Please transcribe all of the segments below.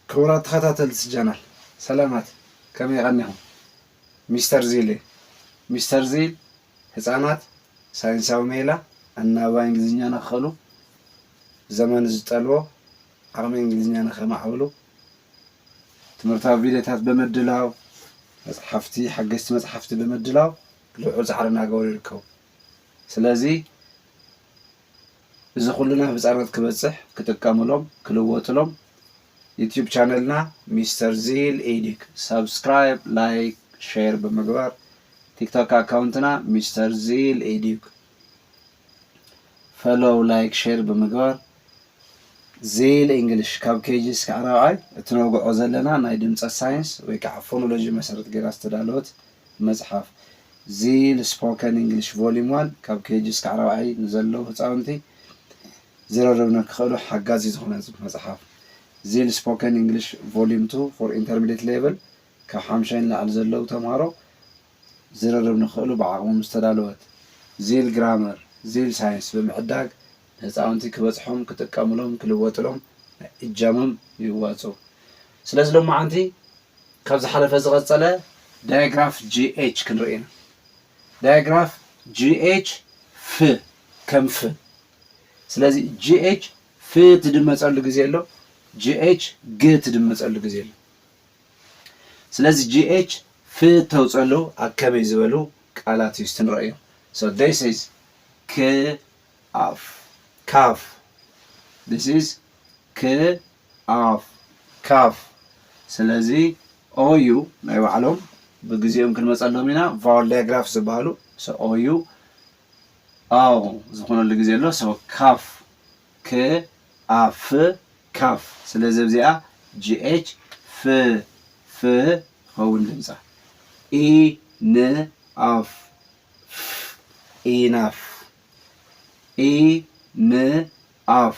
ክቡራት ተኸታተልቲ ቻናል ሰላማት ከመይ ቐኒኹም ሚስተር ዚል እየ ሚስተር ዚል ህፃናት ሳይንሳዊ ሜላ ኣናባባይ እንግሊዝኛ ንኽኽእሉ ዘመኑ ዝጠልቦ ዓቕሚ እንግሊዝኛ ንኸማዕብሉ ትምህርታዊ ቪድዮታት ብምድላው መፅሓፍቲ ሓገዝቲ መፅሓፍቲ ብምድላው ልዑል ፃዕሪ እናገበሩ ይርከቡ ስለዚ እዚ ኩሉ ናብ ህጻናት ክበጽሕ ክጥቀምሎም ክልወጥሎም ዩቱብ ቻነልና ሚስተር ዚል ኤዲክ ሳብስክራይብ ላይክ ሼር ብምግባር ቲክቶክ ኣካውንትና ሚስተር ዚል ኤዲክ ፈሎው ላይክ ሼር ብምግባር ዚል ኢንግሊሽ ካብ ኬጂ እስካዕ ራብዓይ እትነውግዖ ዘለና ናይ ድምጸት ሳይንስ ወይ ከዓ ፎኖሎጂ መሰረት ገይራ ዝተዳለወት መጽሓፍ፣ ዚል ስፖከን ኢንግሊሽ ቮሊም ዋን፣ ካብ ኬጂ እስካዕ ራብዓይ ንዘለዉ ህጻውንቲ ዝርርብ ንክኽእሉ ሓጋዚ ዝኾነ መጽሓፍ፣ ዚል ስፖከን ኢንግሊሽ ቮሊም ቱ ፎር ኢንተርሚዴት ሌቭል፣ ካብ ሓምሻይ ንላዕሊ ዘለዉ ተምሃሮ ዝርርብ ንክኽእሉ ብዓቕሞም ዝተዳለወት፣ ዚል ግራመር፣ ዚል ሳይንስ ብምዕዳግ ንህጻውንቲ ክበጽሖም፣ ክጥቀምሎም፣ ክልወጥሎም ናይ እጃሞም ይዋጽኡ። ስለዚ ሎማዓንቲ ካብ ዝሓለፈ ዝቐጸለ ዳያግራፍ GH ክንርኢ ኢና። ዳያግራፍ GH ፍ ከም ፍ ስለዚ GH ፍ ትድመጸሉ ግዜ ኣሎ GH ግ ትድመጸሉ ግዜ ኣሎ። ስለዚ GH ፍ እተውጸሉ ኣብ ከመይ ዝበሉ ቃላት እዩ እስቲ ንረእዮ so this is ክ ኣፍ ካፍ this is ክ ኣፍ ካፍ ስለዚ ኦዩ ናይ ባዕሎም ብግዜኦም ክንመጸሎም ኢና ቫወል ዳያግራፍ ዝበሃሉ so ኦዩ ኣው ዝኾነሉ ግዜ ኣሎ so ካፍ ክ ኣ ፍ ካፍ ስለዚ ኣብዚኣ gh ፍ ፍ ትኸውን ድምጻ ኢ ን ኣፍ ፍ ኢናፍ ኢ ን ኣፍ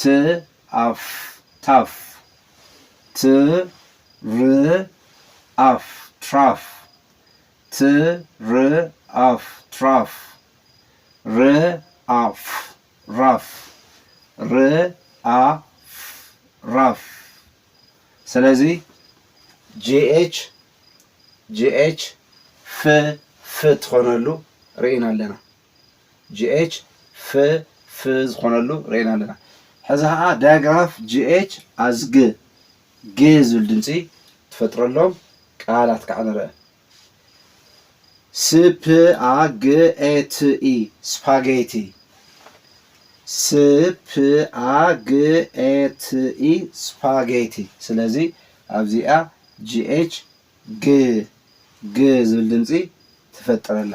ት ኣፍ ታፍ ት ር ኣፍ ትራፍ ት ር ኣፍ ትራፍ ር ኣፍ ራፍ ር ኣፍ ራፍ ስለዚ GH GH ፍ ፍ ትኾነሉ ርኢና ኣለና። GH F F ዝኾነሉ ርኤና ኣለና። ሕዚ ኸዓ ዳያግራፍ GH as G G ዝብል ድምፂ ትፈጥረሎም ቃላት ከዓ ንርእ። ስ ፕ ኣ ግ ኤ ት ኢ ስፓጌቲ ስ ፕ ኣ ግ ኤ ት ኢ ስፓጌቲ ስለዚ ኣብዚኣ GH G G ዝብል ድምፂ ትፈጥር ኣላ።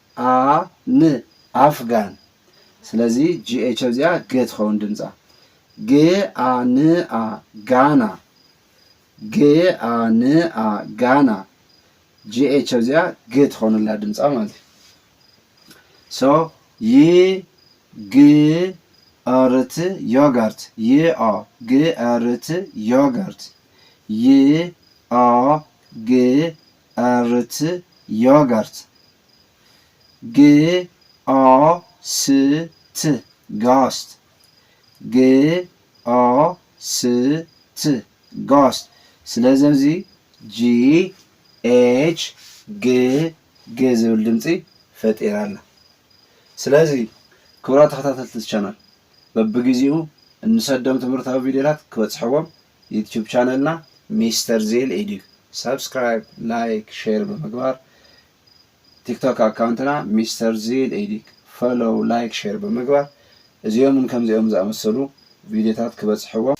a ን ኣፍጋን ስለዚ GH ኣብዚኣ ገ ትኸውን ድምጻ ግ a ን a ጋና ግ a ን a ጋና GH ኣብዚኣ ግ ትኸውን ኣላ ድምጻ ማለት እዩ so ይ ግ ርት ዮጋርት ይ ኦ ግ ርት ዮጋርት ይ ኦ ግ ኣርት ዮገርት ግኦስት ጋስት ግኦስት ጋስት ስለዚ ኣብዚ ጂ ኤች ግ ግ ዝብል ድምፂ ፈጢራ ኣላ ስለዚ ክቡራት ተኸታተልቲ እዚ ቻናል በብግዚኡ እንሰዶም ትምህርታዊ ቪድዮታት ክበፅሕዎም ዩቱብ ቻነልና ሚስተር ዜል ኤድዩ ሳብስክራይብ ላይክ ሼር ብምግባር ቲክቶክ ኣካውንትና ሚስተር ዜል ኤድዩ ፈሎው ላይክ ሼር ብምግባር እዚኦምን ከምዚኦም ዝኣመሰሉ ቪድዮታት ክበፅሕዎም